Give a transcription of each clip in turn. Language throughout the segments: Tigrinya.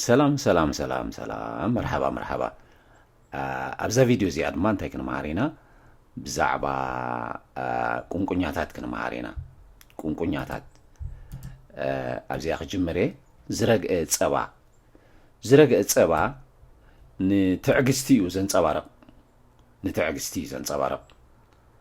ሰላም ሰላም ሰላም ሰላም መርሓባ መርሓባ ኣብዛ ቪድዮ እዚኣ ድማ እንታይ ክንምሃር ኢና ብዛዕባ ቁንቁኛታት ክንምሃር ኢና ቁንቁኛታት ኣብዚኣ ክጅምር እየ ዝረግአ ፀባ ዝረግአ ፀባ ንትዕግስቲ እዩ ዘንፀባርቕ ንትዕግስቲ እዩ ዘንፀባርቕ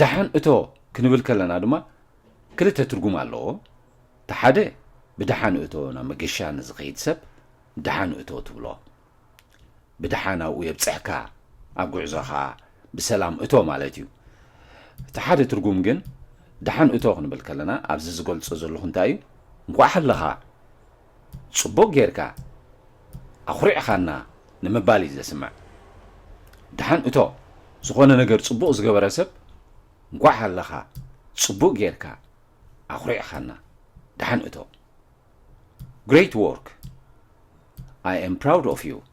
ደሓን እቶ ክንብል ከለና ድማ ክልተ ትርጉም ኣለዎ። እቲ ሓደ ብደሓን እቶ ናብ መገሻ ንዝኸይድ ሰብ ደሓን እቶ ትብሎ። ብደሓን ኣብኡ የብጽሕካ፣ ኣብ ጉዕዞኻ ብሰላም እቶ ማለት እዩ። እቲ ሓደ ትርጉም ግን ደሓን እቶ ክንብል ከለና ኣብዚ ዝገልጾ ዘለኹ እንታይ እዩ? እንኳዕ ሃለኻ! ጽቡቕ ጌርካ ኣኹሪዕኻና ንምባል እዩ ዘስምዕ። ደሓን እቶ ዝኾነ ነገር ጽቡቕ ዝገበረ ሰብ እንኳዕ ሃለኻ ጽቡቕ ጌርካ ኣኹሪዕኻና ደሓን እቶ Great work! I am proud of you!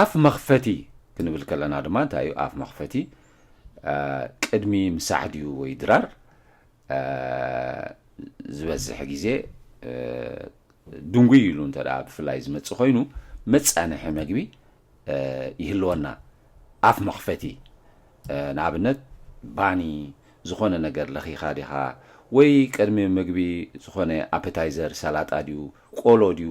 ኣፍ መኽፈቲ ክንብል ከለና ድማ እንታይ እዩ ኣፍ መኽፈቲ ቅድሚ ምሳሕ ድዩ ወይ ድራር ዝበዝሕ ግዜ ድንጉይ ኢሉ እንተ ብፍላይ ዝመፅእ ኮይኑ መፃንሒ መግቢ ይህልወና ኣፍ መኽፈቲ ንኣብነት ባኒ ዝኾነ ነገር ለኺኻ ዲኻ ወይ ቅድሚ ምግቢ ዝኾነ ኣፐታይዘር ሰላጣ ድዩ ቆሎ ድዩ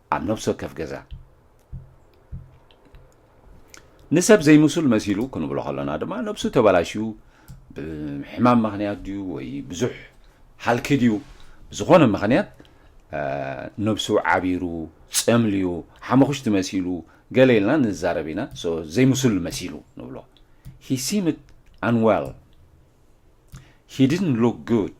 ኣብ ነብሲ ወከፍ ገዛ ንሰብ ዘይምሱል መሲሉ ክንብሎ ከሎና ድማ ነብሱ ተበላሽዩ ብሕማም ምክንያት ድዩ ወይ ብዙሕ ሃልኪ ድዩ ብዝኾነ ምክንያት ነብሱ ዓቢሩ ጸምልዩ ሓመኹሽቲ መሲሉ ገለ ኢልና ንዛረብ ኢና ዘይምሱል መሲሉ ንብሎ ሂ ሲምት ኣንወል ሂ ዲድን ሉክ ጉድ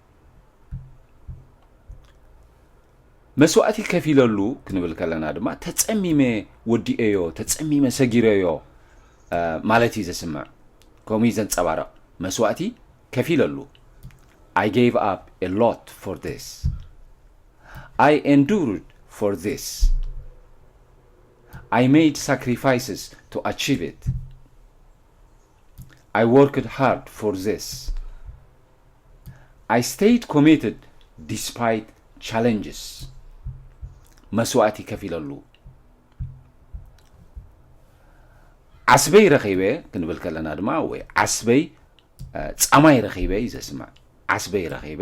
መስዋእቲ ከፊለሉ ክንብል ከለና ድማ ተፀሚመ ወዲኤዮ ተፀሚመ ሰጊረዮ ማለት እዩ ዘስምዕ ከምኡ እዩ ዘንፀባርቕ መስዋእቲ ከፊለሉ ኣይ ጌቭ ኣፕ ኤ ሎት ፎር ዚስ ኣይ ኤንዱርድ ፎር ዚስ ኣይ ሜድ ሳክሪፋይስስ ቱ ኣቺቭ ኢት ኣይ ዎርክድ ሃርድ ፎር ዚስ ኣይ ስተይድ ኮሚትድ ዲስፓይት ቻለንጅስ መስዋእቲ ከፊለሉ ዓስበይ ረኺበ ክንብል ከለና ድማ ወይ ዓስበይ ጻማይ ረኺበ እዩ ዘስምዕ ዓስበይ ረኺበ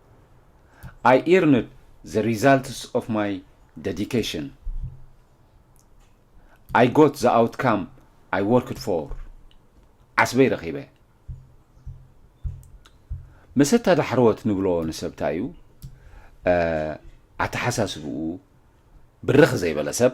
ኣይ ኢርንድ ዘ ሪዛልትስ ኦፍ ማይ ደዲኬሽን ኣይ ጎት ዘ ኣውትካም ኣይ ወርክድ ፎር ዓስበይ ረኺበ መሰታ ዳሕረወት ንብሎ ንሰብ እንታይ እዩ ኣተሓሳስብኡ ብርኽ ዘይበለ ሰብ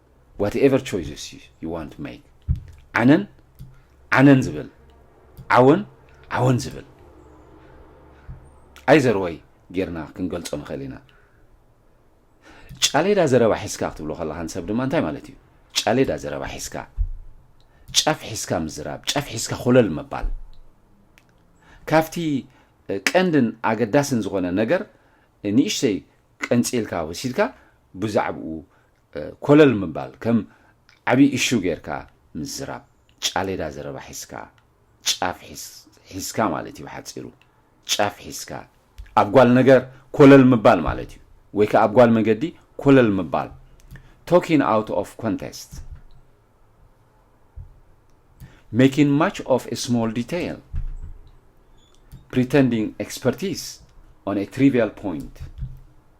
ዋትኤቨር ቾይስስ ዩ ዩ ዋን ቱ ሜክ ዓነን ዓነን ዝብል ዓወን ዓወን ዝብል ኣይዘር ወይ ጌርና ክንገልጾ ንኽእል ኢና ጫሌዳ ዘረባ ሒዝካ ክትብሎ ከለኻ ንሰብ ድማ እንታይ ማለት እዩ ጫሌዳ ዘረባ ሒዝካ ጫፍ ሒዝካ ምዝራብ ጫፍ ሒዝካ ኮለል ምባል ካብቲ ቀንድን ኣገዳስን ዝኾነ ነገር ንእሽተይ ቀንፂልካ ወሲድካ ብዛዕብኡ ኮለል ምባል ከም ዓቢ እሹ ጌርካ ምዝራብ ጫሌዳ ዘረባ ሒዝካ ጫፍ ሒዝካ ማለት እዩ ብሓጺሩ ጫፍ ሒዝካ ኣብ ጓል ነገር ኮለል ምባል ማለት እዩ ወይ ከኣ ኣብ ጓል መገዲ ኮለል ምባል ቶኪን ኣውት ኦፍ ኮንቴስት making much of a small detail pretending expertise on a trivial point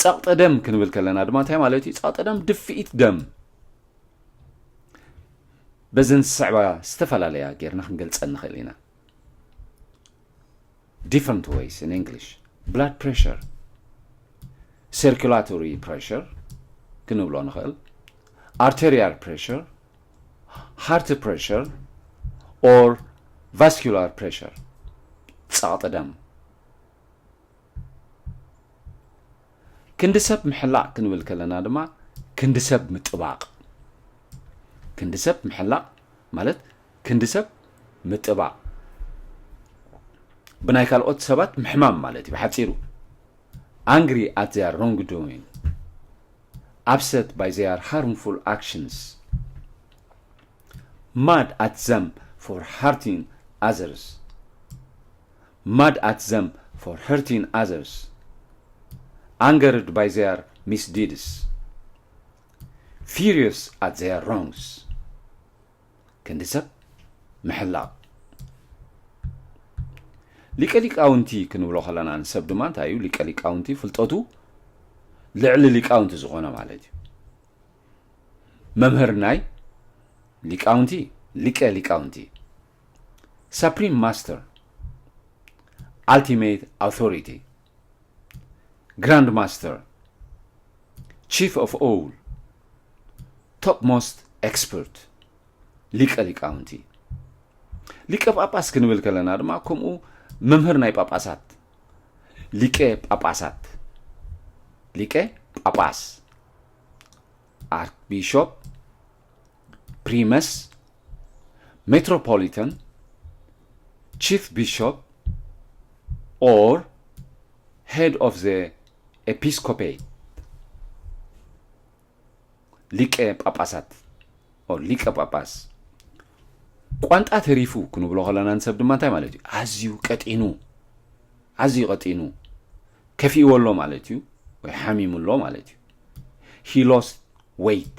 ጸቕጢ ደም ክንብል ከለና ድማ እንታይ ማለት እዩ ጸቕጢ ደም ድፍኢት ደም በዘን ዝስዕባ ዝተፈላለያ ጌርና ክንገልጸን ንኽእል ኢና ዲፍረንት ወይስ ን እንግሊሽ ብላድ ፕሬሽር ሰርኩላቶሪ ፕሬሽር ክንብሎ ንኽእል ኣርቴሪያል ፕሬሽር ሃርት ፕሬሽር ኦር ቫስኩላር ፕሬሽር ጸቕጢ ደም ክንዲ ሰብ ምሕላቕ ክንብል ከለና ድማ ክንዲ ሰብ ምጥባቕ ክንዲ ሰብ ምሕላቕ ማለት ክንዲ ሰብ ምጥባቕ ብናይ ካልኦት ሰባት ምሕማም ማለት እዩ ብሓፂሩ ኣንግሪ ኣት ዘያር ሮንግ ዶዊን ኣፕሰት ባይ ዘያር ሃርምፉል ኣክሽንስ ማድ ኣት ዘም ፎር ሃርቲንግ ኣዘርስ ማድ ኣት ዘም ፎር ሀርቲን ኣዘርስ ኣንገርድ ባይ ዘያር ሚስ ዲድስ ፊርዮስ ኣት ዘያር ሮንግስ ክንዲ ሰብ ምሕላቕ ሊቀ ሊቃውንቲ ክንብሎ ከለና ንሰብ ድማ እንታይ እዩ ሊቀ ሊቃውንቲ ፍልጠቱ ልዕሊ ሊቃውንቲ ዝኾነ ማለት እዩ መምህር ናይ ሊቃውንቲ ሊቀ ሊቃውንቲ ሰፕሪም ማስተር ኣልቲሜት ኣውቶሪቲ ግራንድ ማስተር ቺፍ ኦፍ ኦል ቶፕ ሞስት ኤክስፐርት ሊቀ ሊቃውንቲ ሊቀ ጳጳስ ክንብል ከለና ድማ ከምኡ መምህር ናይ ጳጳሳት ሊቀ ጳጳሳት ሊቀ ጳጳስ ኣርክቢሾፕ ፕሪመስ ሜትሮፖሊተን ቺፍ ቢሾፕ ኦር ሄድ ኦፍ ዘ ኤፒስኮፔት ሊቀ ጳጳሳት ኦር ሊቀ ጳጳስ ቋንጣ ተሪፉ ክንብሎ ከለና ንሰብ ድማ እንታይ ማለት እዩ ኣዝዩ ቀጢኑ ኣዝዩ ቀጢኑ ከፊእዎ ኣሎ ማለት እዩ ወይ ሓሚሙ ኣሎ ማለት እዩ ሂሎስ ወይት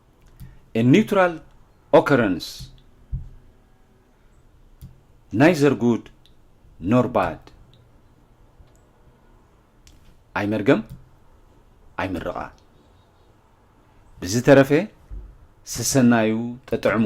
a neutral occurrence ናይዘር ጉድ ኖር ባድ ኣይመርገም ኣይምርቓ ብዝተረፈ ሰሰናዩ ጠጥዕሙ